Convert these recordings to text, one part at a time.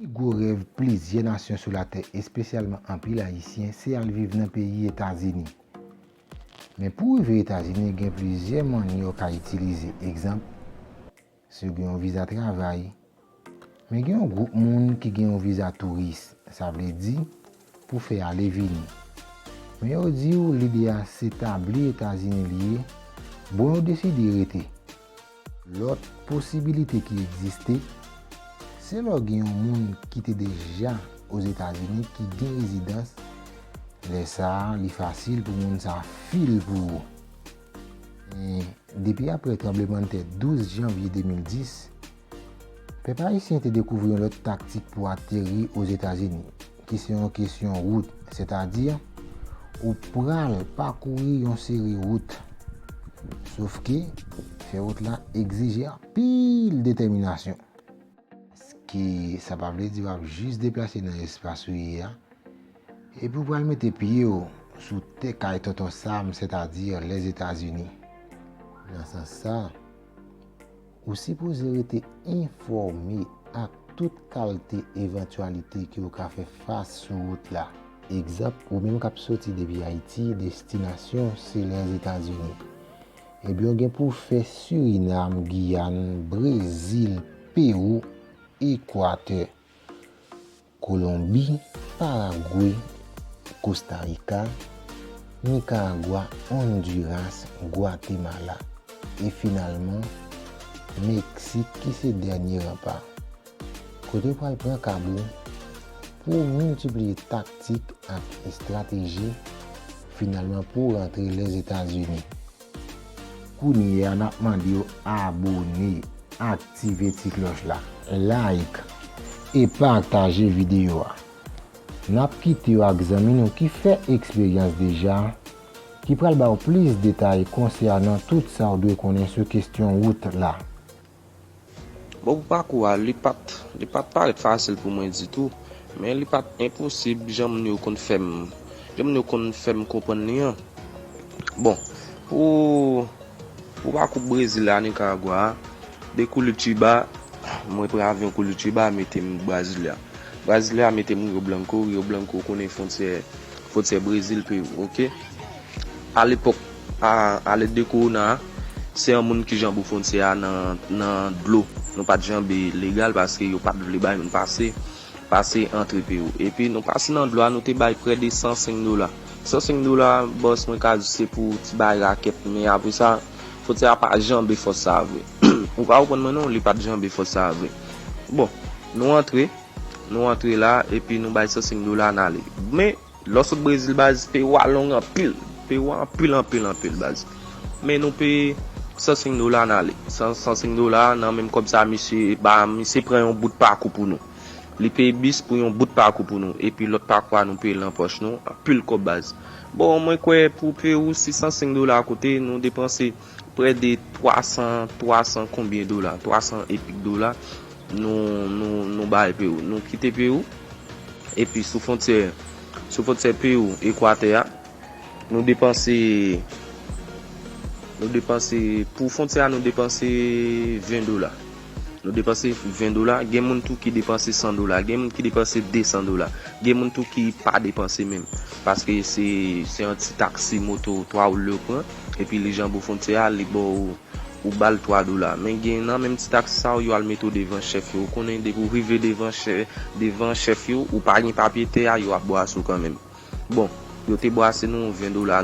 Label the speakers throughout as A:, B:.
A: Pi gwo rèv plizyè nasyon sou latè, espesyalman anpil Ayisyen, se al viv nan peyi Etazini. Men pou rive Etazini gen plizyè mannyè w ka itilize. Egzanp, Si w gen yon viza travay. Men gen yon gwoup moun ki gen yon viza touris, sa vle di, pou fè ale vini. Men yo di w lide a se tabli Etazini li ye, bon yo deside rete. Lòt posibilite ki egziste, se lè w gen yon moun ki te deja Ozetazini ki gen rezidans, lè sa a li fasil pou moun sa fil pou ou. Depi apre tranblemanntè 12 janvye 2010, pèp ayisyen te dekouvri yon lòt taktik pou ateri Ozetazini, ki se yon kesyon wout, sètadi, ou pral pakouri yon seri wout. Sof ke, fè wout la egzije anpil detèminasyon. Paske, sa pa vle di w ap jis deplase nan espas ou ye a. Epi ou pral mete pye w sou tè kay Tonton Sam, sètadi Lèzetazini. Nan sans sa, ou sipoze rete enfòme ak tout kalte evantyalite ke ou ka fè fas sou wout la. Egzanp, ou menm k ap soti depi Ayiti, destinasyon se Lèzetazini. Ebyen ou gen pou w fè Sirinam, Giyàn, Brezil, Pewou, Ekwatè. Kolonbi, Paragwe, Kosta Rika, Nikaragwa, Ondiras, Gwatemala, e finalman, Meksik ki se dènye ranpa. Kote yo pral pran kab ou pou w miltipliye taktik ak estrateji, finalman pou w rantre Lèzetazini. Kounye a nap mande w abone, aktive ti klòch la. Like e pataje videyo a. Nap kite w ak zanmi nou ki fè eksperyans deja, ki pral ba w plis detay konsènan tout sa w dwe konnen sou kestyon wout la.
B: Bon pou pakou a li pat li pat parèt fasil pou mwen ditou men li pat enposib jan moun yo konn fèm jan moun yo konn fèm konprann li an bon pou pou pakou brezil a nikaragwa a de kulitiba mwen pran avyon kulitiba metem brasilia brasilia metem rio blanco rio blanco konnen fontyè fontyè brezil peru ok alepòk. a alèd de kowona a, se yon moun ki janbe fwontyè a nan dlo. Nou pa t janbe legal paske yo pa t vle bay moun pase, pase antre Perou. Epi nou pase nan dlo a, nou te bay prè de 105 dola. 105 dola a, bòs mwen ka di se pou ti bagay rakèt, men apre sa, fwontyè a pa janbe fòs sa a vre. Ou pa konprann mwen non, li pa t janbe fòs sa a vre. Bon, nou antre, nou antre la, epi nou bay 105 dola a n ale. Men, Los ou brezil baz peyi ou a long anpil peyi ou a anpil anpil anpil baz men nou peye 105 dola nale 105 dola nan menm kob sa misye ba misye pran yon bout pakou pou nou li peye bis pou yon bout pakou pou nou epi lot pakou a nou peyel nan poch nou anpil kob baz bon mwen kwe pou peyi ou si 105 dola koute nou depanse Prè de 300, 300 konbyen dola, 300 e pik dola nou, nou, nou bay Perou. Nou kite Perou, epi sou fontyè, sou fontyè Perou, Ekwatè a, nou depanse, nou depanse, pou fontyè a nou depanse 20 dola. Nou depanse 20 dola, gen moun tou ki depanse 100 dola, gen moun ki depanse 200 dola, gen moun tou ki pa depanse menm. Paske se yon ti taksi moto 3 ou lè ou pran, epi li janbe ou fwontyè a, li ba ou, ou ba l 3 dola. Men gen nan menm ti taksi sa yo, yo al mete ou devan chèf yo. Ou konnen depi ou rive devan chèf yo, ou pa gen papye tè a, yo ap bwase ou kanmenm. Bon, yo te brase nou 20 dola,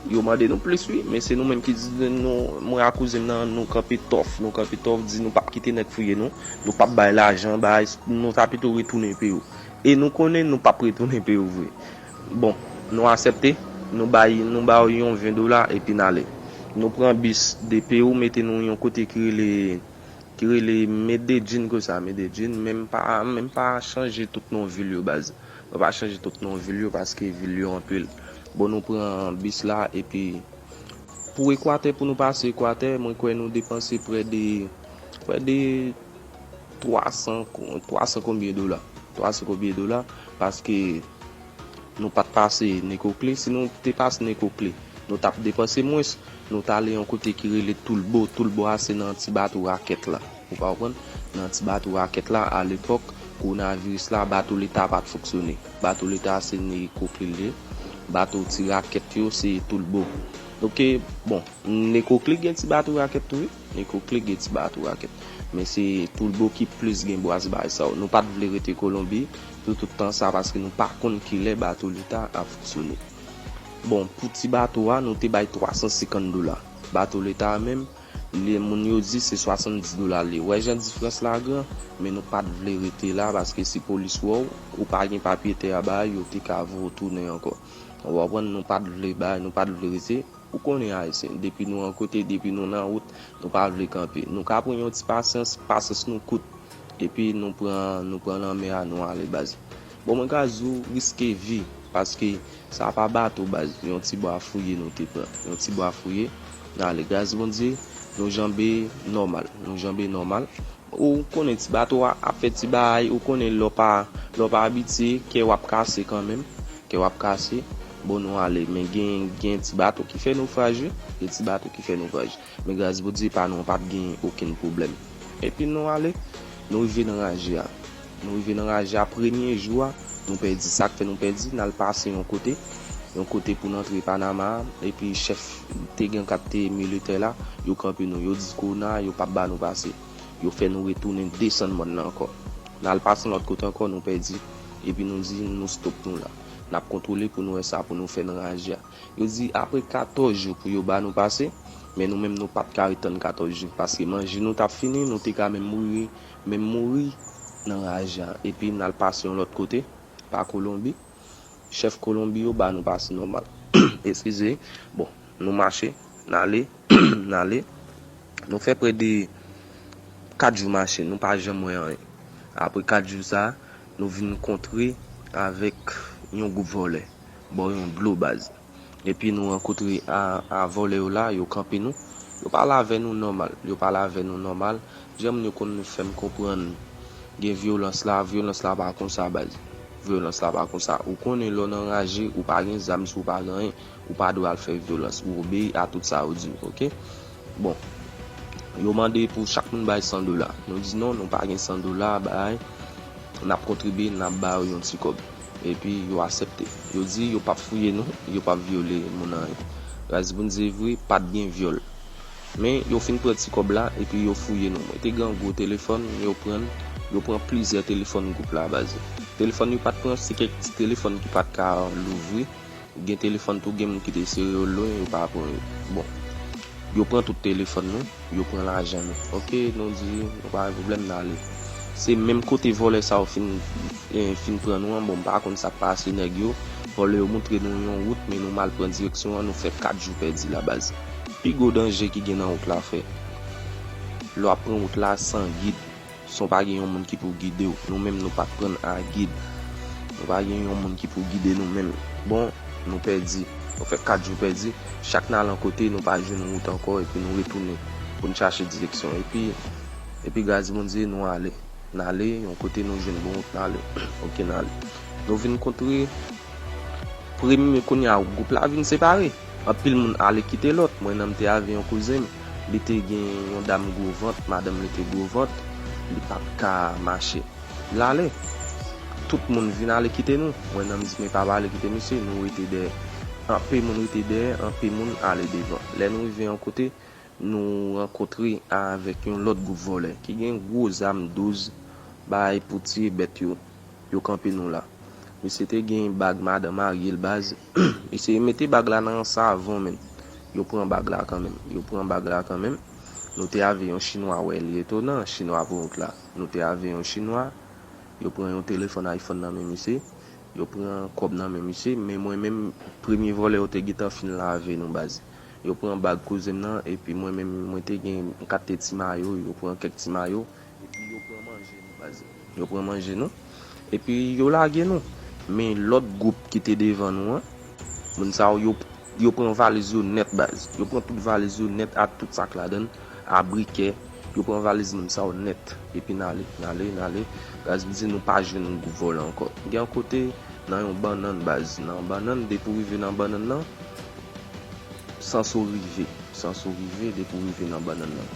B: yo mande nou plis wi, men se nou menm ki di nou, mwen ak kouzen m nan, nou kanpe tòf, nou kanpe tòf, di nou pap kite nèg fouye nou, nou pap bay lajan, bay, nou ta pito retounen Peyou. E nou konnen nou pap retounen Peyou vre. Bon, nou asèpte, nou bay, nou ba yo yon 20 dola epi n ale. Nou pran bis de Peyou mete nou yon kote ki rele, ki rele Mededjin konsa, Mededjin, menm pa, menm pa chanje tout non vil yo baz. Mwen pa chanje tout non vil yo paske vil yo anpil. Bon nou pran bis la epi pou ekwatè pou nou pase ekwatè mwen kwè nou depanse prè de prè de 300 300 konbyen dola 300 konbyen dola paske nou pat pase nekokle si nou te pase nekokle nou tap depanse mwens nou tale yon kote ki rele toulbo toulbo a se nan ti bato rakèt la. Ou ka konprann, nan ti bato rakèt la, a lepòk kowonaviris la, bato leta pa t fonksyone. Bato leta a se nèg eko klik li ye. Bato ti rakèt yo se toulbo. Ok, bon, eko klik gen ti bato rakèt tou wi. Eko klik gen ti bato rakèt. Men se toulbo ki plis gen bwaz bay sa yo. Nou pa t vle rete Kolonbi pou tout tan sa paske nou pa konn ki lè bato leta a ap fonksyone. Bon, pou ti bato a, nou te bay 350 dola. Bato leta a menm. Li moun yo di se 70 dola li. Wè jan difrans la gran? Men nou pat vle rete la paske si polis wè w, ou pa gen papye tè a bay yo te ka voye w tounen ankò. Ou konprann nou pat vle bay, nou pat vle rete. Ou konnen ayisyen, depi nou yon kote, depi nou nan wout, nou pa vle kanpe. Nou ka pran yon ti pasyans, pasyans nou kout. Epi nou pran, nou pran lanmè a nou ale baz. Bon mwen ka di w riske vi paske sa pa bato baz yon ti bwa fouye nou te pran yon ti bwa fouye nan ale gras Bondye nou janbe nòmal nou janbe nòmal. Ou konnen ti bato a ap fè ti bahay ou konnen lè w pa lè w pa abitye kè w ap kase kanmenm kè w ap kase bon nou ale men gen gen ti bato ki fè nofraj wi gen ti bato ki fè nofraj. Men gras Bondye pa nou an pap gen okenn pwoblèm. Epi nou ale, nou rive nan raje a. Nou rive nan raje a, premye jou a, nou pèdi. Sa k fè nou pèdi, n al pase yon kote, yon kote pou n antre Panama a, epi chèf te gen k ap te militè la, yo kanpe nou, yo di kona a yo pap ba nou pase. Yo fè nou retounen desann mòn nan ankò. N al pase yon lòt kote ankò, nou pèdi. Epi nou di nou stop nou la. N ap kontwole pou nou wè sa pou nou fè nan raje a. Yo di apre 14 jou pou yo ba nou pase, men nou menm nou pat ka ret tann 14 jou paske manje nou tap fini, nou te ka menm mouri menm mouri nan raj la epi nal pase yon lòt kote pa kolonbi, chèf kolonbi yo ba nou pase nòmal eskize bon nou mache nale nale nou fè prè de 4 jou mache nou pa janm wè anyen apre 4 jou sa nou vin kontre avèk yon gwoup vòlè Baw yon dlo baz. Epi nou rankotre a vole yo la yo kanpe nou yo pale avè nou nòmal yo pale avè nou nòmal jan moun yo konn fèm konprann gen vyolans la vyolans la pa konsa baz vyolans la pa konsa ou konnen lè w nan raje ou pa gen zam si w pa gen anyen ou pa dwe al fè vyolans ou obeyi a tout sa yo diw ok. Bon Yo mande pou chak moun bay 100 dola Nou di non nou pa gen 100 dola bay Nap kontribye nap ba yo yon ti kòb Epi yo asèpte Yo di yo pap fouye nou Yo pap vyole moun anyen Raz Pou n di vre pat gen vyòl Men yo fin pran ti kòb la Epi yo fouye nou Mwen te gen yon gwo telefòn Yo pran l Yo pran plizyè telefòn gwoup la baz Telefòn yo pat pran se kèk ti telefòn ki pat ka louvri Gen telefòn tou gen moun ki te sere yo lwen yo pa pran yo bon yo pran tout telefòn nou yo pran lajan nou ok nou di nou pa gen problèm nale se menm kote vòlè sa yo fin fin pran nou an bon mpa konn sak pase nèg yo vòlè yo moutre nou yon wout men nou mal pran direksyon an nou fè 4 jou pèdi la baz pi gwo danje ki gen nan wout la fè lè wap pran wout la san gid. San w pa gen yon moun ki pou gide w, nou menm nou pa k prann a gid. Nou pa gen yon moun ki pou gide nou menm. Bon, nou pèdi. Nou fè kat jou pèdi. Chak n al yon kote, nou pa jwenn wout ankò epi nou retounen pou n chache direksyon. Epi, epi gras Bondye, nou ale. N ale yon kote nou jwenn bon wout n ale. Ok, n ale. Nou vin kontre premye, kounye a gwoup la vin separe. Anpil moun ale kite lòt. Mwen nan m te avè yon kouzen m. Li te gen yon dam gwo vant, madanm li te gwo vant, li pa t ka mache. L ale. Tout moun vin ale kite nou. Branham di, Men pa pale, kite misye. Nou rete dèyè. Anpe moun rete dèyè, anpe moun ale devan. Lè nou rive yon kote, nou rankontre avèk yon lòt gwoup vòlè ki gen gwo zam douz bay pou tiye bèt yo. yo kanpe nou la. Misye te gen bag madan maryel baz mesye mete bag la nan savon menn yo pran bag la kanmenm yo pran bag la kanmenm nou te ave yon chinwa wè li etonan chinwa poukont la nou te ave yon chinwa yo pran yon telefòn ayfòn nan men misye yo pran kòb nan men misye men mwen menm premye vòlè yo te gentan fin lave nou baz yo pran bag kouzenm nan epi mwen menm mwen te gen m kat te ti mayo yo pran kèk ti mayo. Epi yo pran manje nou baz. Yo pran manje nou. Epi yo lage nou. Men lòt gwoup ki te devan nou an. Moun sa yo yo pran valiz yo nèt baz. Yo pran tout valiz yo nèt ak tout sak ladan l. A brikè. Yo pran valiz moun sa yo nèt. Epi n ale. N ale. N ale. Baz m di nou pa jwenn gwoup vòlè ankò. Gen yon kote nan yon bannann baz. Nan bannann depi w rive nan bannann nan. Sans ou rive sans ou rive depi ou rive nan bannann nan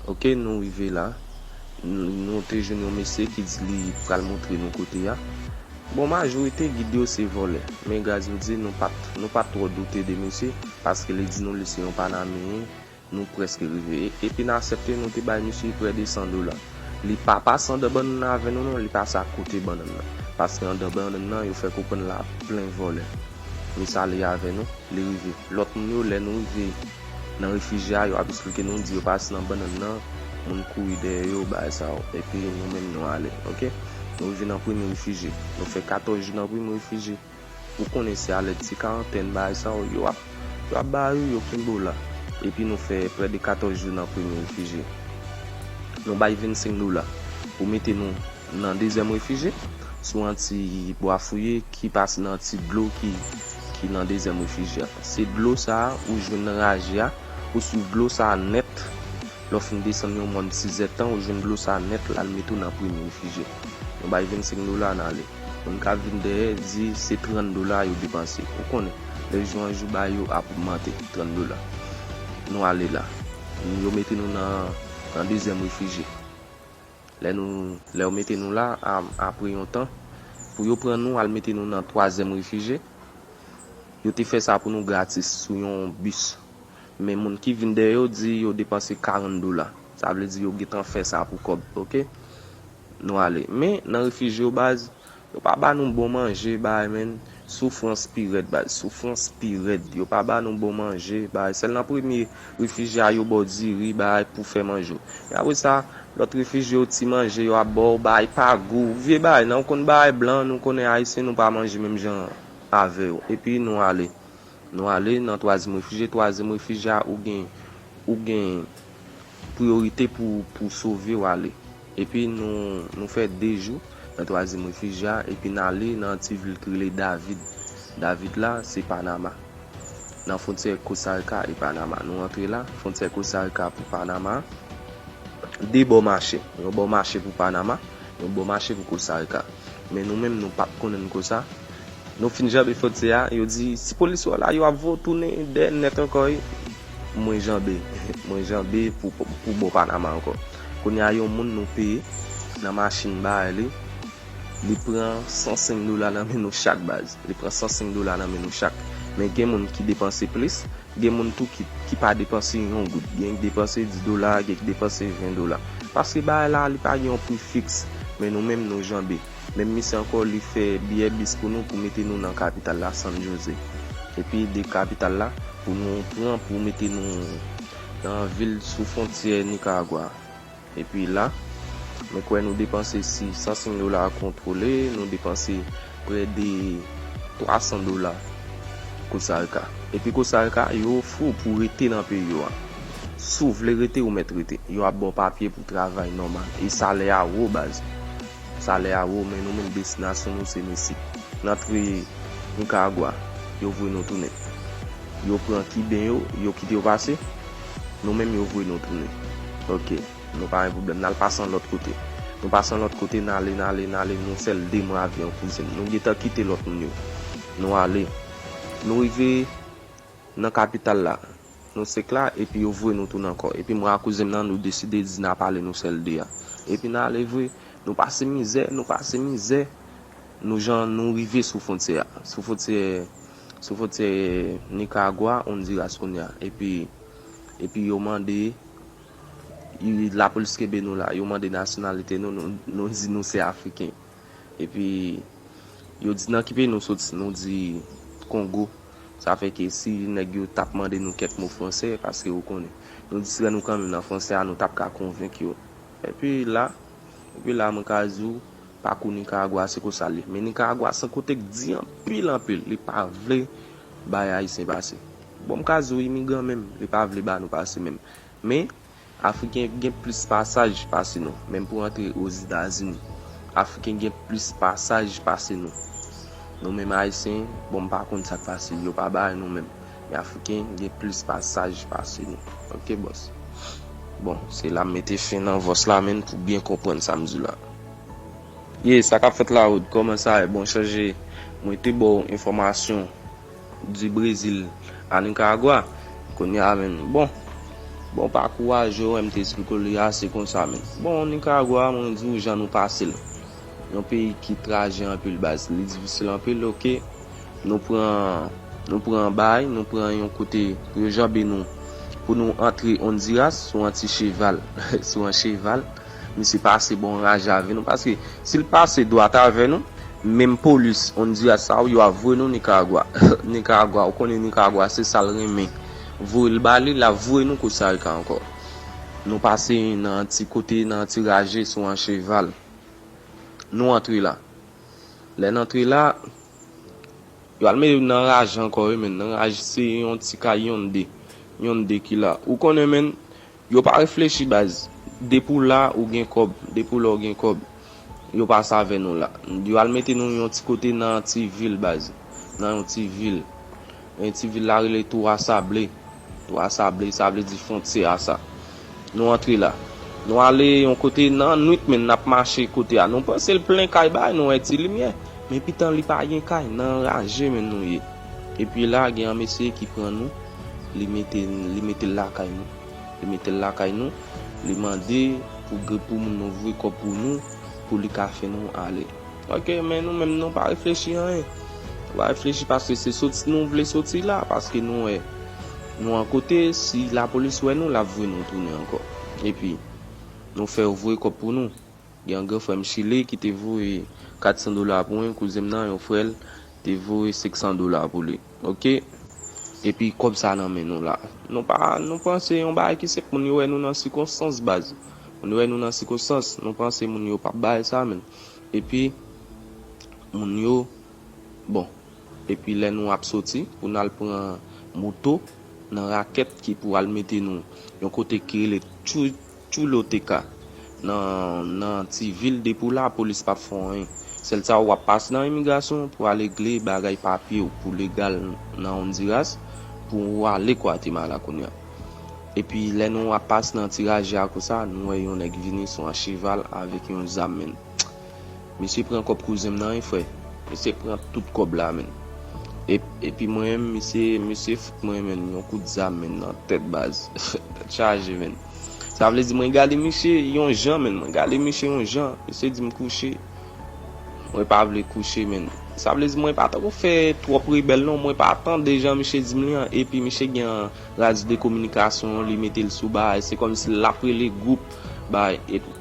B: ok nou rive la nou te jwenn yon mesye ki di li pral montre nou kote ya bon majorite gid yo se vòlè men gras yo di nou pat nou pat twò doute de mesye paske li di nou li se yon panameyen nou prèske rive epi n asèpte nou te bay mesye prè de 100 dola li pa pase andan bannann nan avè nou non li pase akote bannann nan paske andan bannann nan yo fè konprann la plen vòlè. Miss ale avè nou, li rive. Lòt moun yo lè nou rive nan refijye a yo ap esplike nou di yo pa si nan bannann nan, moun kouri dèyè yo bagay sa yo. Epi nou menm nou ale ok. Nou rive nan premye refijye, nou fè 14 jou nan premye refijye. Ou konnen se a lèd ti karantèn bagay sa yo, yo ap yo ap bay ou, yo kenbe ou la. Epi nou fè prè de 14 jou nan premye refijye. Nou bay 25 dola pou mete nou nan dezyèm refije, sou antiy Bwa Fouye ki pase nan antiy dlo ki ki nan dezyèm refije a. Se dlo sa ou jwenn nan raje a, ou swiv dlo sa nèt, lè w fin desann yon mòn Tizètan ou jwenn dlo sa nèt la l mete w nan premye refije. Nou bay 25 dola n ale. Moun k ap vin dèyè di se 30 dola yo depanse. Ou konnen, lè jou an jou bagay yo ap ogmante, 30 dola. Nou ale la. Yo mete nou nan nan dezyèm refije. Lè nou, lè yo mete nou la a, apre yon tan, pou yo pran nou al mete nou nan twazyèm refije, yo te fè sa pou nou gratis sou yon bis. Men moun ki vin dèyè yo di yo depanse 40 dola. Sa vle di yo gentan fè sa pou kòb, oke. Nou ale. Men, nan refije yo baz. Yo pa ba nou bon manje bay menn soufrans pi rèd bay soufrans pi rèd yo pa ba nou bon manje bay sèl nan premye refijye a yo baw diri bay pou fè manje w men apre sa lòt refijye yo ti manje yo ap baw bay pa gou vye bay nan ou konn bay blan nou konnen ayisyen nou pa manje menm jan avè yo epi nou ale nou ale nan twazyèm refijye twazyèm refijye a ou gen ou gen Priyorite pou sove w ale. Epi nou fè de jou nan twazyèm refij la epi n ale nan yon ti vil ki rele David. David la se Panama. Nan fwontyè Kosarika e Panama. Nou rantre la, fwontyè Kosarika pou Panama. De bò mache. Yon bò mache pou Panama, yon bò mache pou Kosarika. Men nou menm nou pa t konnen n konsa. Nou fin janbe fwontyè a, yo di, si polis yo la, yo ap voye w tounen dèyè nèt ankò. Mwen janbe Mwen janbe pou bò Panama ankò. Kounye a yon moun nou peye nan machin bay li, li pran 105 dola nan men nou chak baz. Li pran 105 dola nan men nou chak. Men gen moun ki depanse plis, gen moun tou ki pa depanse yon goud. Gen ki depanse 10 dola, gen ki depanse 20 dola. Paske bay la li pa gen yon pri fiks. Men nou menm nou janbe. Menm misye ankò li fè biyè bis pou nou pou mete nou nan kapital la San Jose. Epi de kapital la pou nou pran pou mete nou nan vil sou fwontyè Nikaragwa a. Epi la, mwen kwè nou depanse si 105 dola a kontwole, nou depanse prè de 300 dola Kosarika. Epi Kosarika, yo ofri w pou rete nan peyi yo a. Si w vle rete, ou mèt rete. Yo ap ba w papye pou travay nòmal. E salè a wo baz. Salè a wo men nou menm destinasyon nou se Mesi. N antre Nicaragua, yo voye nou tounen. Yo pran Kiben yo, yo kite yo pase, nou menm yo voye nou tounen. Ok, nou pa gen pwoblèm, n al pase yon lòt kote. Nou pase yon lòt kote, n ale, n ale, n ale, nou fè l de mwa avyon kouzin. Nou gentan kite lòt moun yo. Nou ale. Nou rive. Nan kapital la. Nou sek la epi yo voye nou tounen ankò. Epi mwen ak kouzen m nan nou deside di n ap ale nou sèl de a. Epi n ale vre. Nou pase mizè, nou pase mizè. Nou jan nou rive sou fwontyè a. Sou fwontyè, sou fwontyè Nikaragwa, Ondiras kounye a. Epi, epi yo mande, lapolis kenbe nou la. Yo mande nasyonalite nou, nou di nou se Afriken. Epi yo di nan ki peyi nou soti nou di Kongo sa fè ke si nèg yo tap mande nou kèk mo fransè paske ou konnen nou distrè nou kanmenm nan fransè a nou tap ka konvenk yo epi la epi la mwen ka di ou pakou Nicaragua a se konsa l ye men Nicaragua san kote k di anpil anpil li pa vle bay ayisyen pase bon m ka di ou imigran menm li pa vle ba nou pase menm men. Afriken gen plis pasaj pase nou, menm pou antre Ozetazini. Afriken gen plis pasaj pase nou. Nou menm Ayisyen, bon m pa konn sa k pase, yo pa bay nou menm. Men Afriken gen plis pasaj pase nou. Ok bòs. Bon, se la m mete fen nan vòs la menn pou byen konprann sa m di w la. Ye, sa k ap fèt la Rod? Kòman sa ye? Bon chanje, mwen te ba w enfòmasyon. Du Brésil à Nicaragua kounye a menn bon bon pakou a je wè m te esplike w li a se konsa menn bon Nicaragua a mwen di w jan nou pase l yon peyi ki traje anpil baz li difisil anpil ok nou pran nou pran bay nou pran yon kote pou yo janbe nou pou nou antre Honduras sou an ti cheval sou an cheval. Misye pase bon raj avè nou paske sil pase dwat avè nou menm polis Honduras sa yo yo ap voye nou Nicaragua Nicaragua ou konnen Nicaragua se sal renmen voyel bale lap voye nou Costa Rica ankò nou pase nan yon ti kote nan yon ti raje sou yon cheval nou antre la lè nan antre la yo al mete nou nan raje ankò wi menn nan raje se yon ti kay yon de yon de ki la ou konnen menn Yo pa reflechi baz. Depi w la ou gen kòb. Depi w la ou gen kòb. Yo pa sa avè nou la. Yo al mete nou yon ti kote nan yon ti vil baz. Nan yon ti vil. E ti vil la rele Toura Sable. Toura Sable sa vle di fontyè a sa. Nou antre la. Nou ale yon kote nan nwit men n ap mache kote a. Nou panse l plen kay bay. Nou wè ti limyè. Men pitan li pa gen kay. Nan raje men nou ye. Epi la gen yon mesye ki pran nou, li mete li mete l lakay nou. Li mete l lakay nou, li mande pou gen pou moun nan voye kòb pou nou pou li ka fè nou ale. Ok, men nou menm nou pa reflechi anyen. Nou pa reflechi paske se soti nou vle soti la, paske nou wè nou an kote, si lapolis wè nou, l ap voye nou tounen ankò. Epi nou fè yo voye kòb pou nou. Gen yon gran frè m Chile ki te voye 400 dola pou mwen, kouzen m nan, yon frè l, te voye 500 dola pou li. Ok. Epi kòb sa nan men nou la. Nou pa, nou pran se yon bagay ki senp. Moun yo wè nou nan sikonstans baz. Moun yo wè nou nan sikonstans. Nou pran se moun yo pa bay sa menm. Epi moun yo, bon. Epi lè nou ap soti pou n al pran moto nan rakèt ki pou al mete nou yon kote ki rele Tchou, Chulo TK nan nan ti vil depi w la polis pap fè w anyen sèl sa wap pase nan imigrasyon pou ale gle bagay papye w pou legal nan Honduras pou w ale Guatemala kounya epi lè nou ap pase nan ti raje a konsa nou wè yon nèg vini sou an cheval avèk yon zam menn misye pran kòb kouzen m nan wi frè. Misye pran tout kòb la menn epi mwen menm misye fout mwen menn yon kout zam menn nan tèt baz tèt chaje menn. Sa vle di mwen gade misye yon jan menn mwen gade misye yon jan misye dim kouche mwen pa vle kouche menn sa vle di mwen pa tako fè twòp rebèl non mwen pa tande jan misye dim li an epi misye gen an raj de kominikasyon li metel sou baay se kòmsi lap rele gwoup baay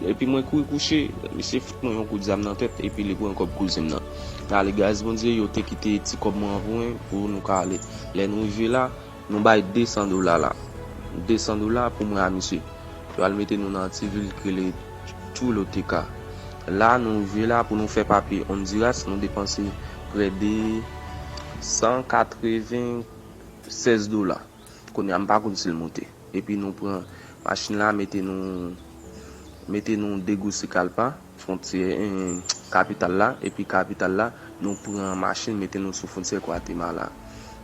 B: epi mwen kouri kouche misye fout mwen yon kout zam nan tèt epi li pran kòb kouzenm nan nale gras bondye yo te kite ti kòb mwen an pou mwen pou nou ka ale lè nou rive la. Nou bay 200 dola la. 200 dola pou mwen a misye. Yo al mete nou nan yon ti vil k rele Choluteca. La a nou rive la pou nou fè papye Honduras nou depanse prè de 196 dola. Kounye a m pa konn si l moute. Epi nou pran machin la mete nou mete nou Tegucigalpa. Fwontyè kapital la epi kapital la, nou pran machin mete nou sou fwontyè Gwatemala.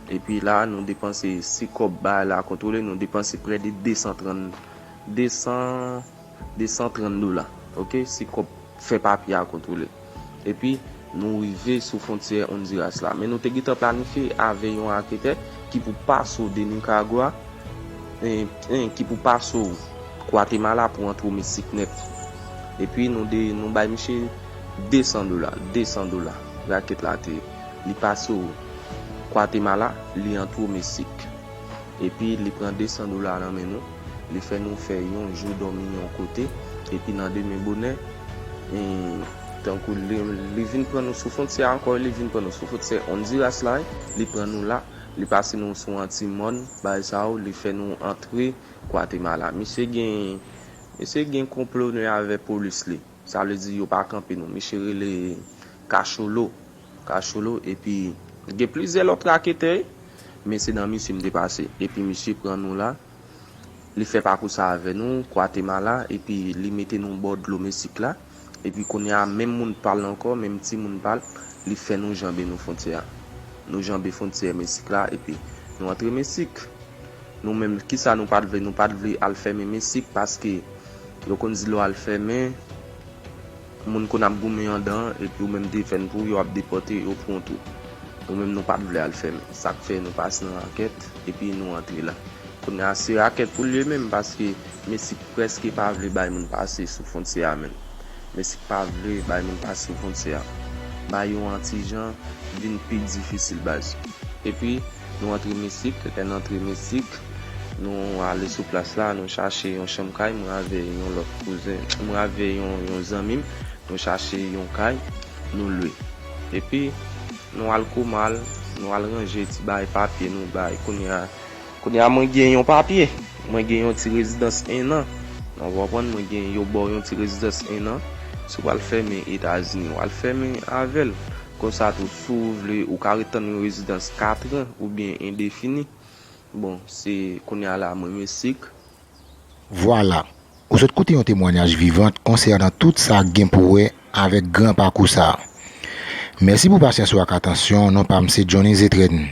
B: Epi la a, nou depanse, si kòb baay la kontwole, nou depanse prè de 230, 200, 230 dola, ok, si kòb fè papye a kontwole. Epi. Nou rive sou fwontyè Ondiras la, men nou te gentan planifye avè yon aketè ki pou paso de Nikaragwa, en, ki pou paso Gwatemala pou antre o Meksik nèt. Epi nou de, nou bay miche 200 dola, 200 dola, rakèt la te ye. Li paso Gwatemala, li antre o Meksik. Epi li pran 200 dola nan men nou, li fè nou fè yon jou dòmi yon kote, epi nan demen bonè, en, Tankou li vin pran nou sou fontyè a ankò, li vin pran nou sou fontyè Ondiras la, li pran nou la, li pase nou sou anti mòn bay sa yo, li fè nou antre Gwatemala. Misye gen, misye gen konplo nou avè polis li. Sa vle di yo pa kanpe nou. Misye rele Kacholo, Cacholo epi gen plizyè lòt raketè men se nan misye m te pase epi misye pran nou la. Li fè pakou sa avè nou, Kwatemala, epi li mete nou bò dlo Mesik la. Epi kounye a, menm moun pa l ankò, menm timoun pa l, li fè nou janbe nou fontyè a. Nou janbe fontyè Mesik la, epi nou antre Mesik. Nou menm, ki sa nou pa t vle? Nou pa t vle al fèmen Mesik, paske yo konn di lò a l fèmen. Moun konn ap goumen andan epi ou menm defèn pou yo ap depòte yo pran w tou nou menm nou pat vle al fèmen sak fè nou pas nan rakèt epi nou antre la kounya se rakèt poul ye menm paske mesik prèske pa vle bay moun pase sou fontyè a menm mesik pa vle bay moun pase sou fontyè a ba yo an tijan vin pi difisil baz epi Nou antre Misik, lè n antre Misik, nou ale sou plas la, nou chache yon chanm kay, mwen avè yon lòt kouzen, mwen avè yon zanmi m, nou chache yon kay, nou lwe. Epi, nou al Komal, nou al ranje ti bagay papye nou bay. Kounye a, kounye a mwen gen yon papye, mwen gen yon ti rezidans ennan, nan w konprann, mwen gen yo ba w yon ti rezidans ennan, si w al fèmen Etazini, w al fèmen avè l. Konsa tou, si w vle, ou ka ret tann yon rezidans katran oubyen endefini. Bon, se kounye a la mwen misik.
A: Vwala! Ou sot koute yon temwanyaj vivant konsènan tout sa k gen pou wè avèk gran pakou sa a. Mèsi pou pasyans ou ak atansyon w, non pa m se Johnny Zétrenne.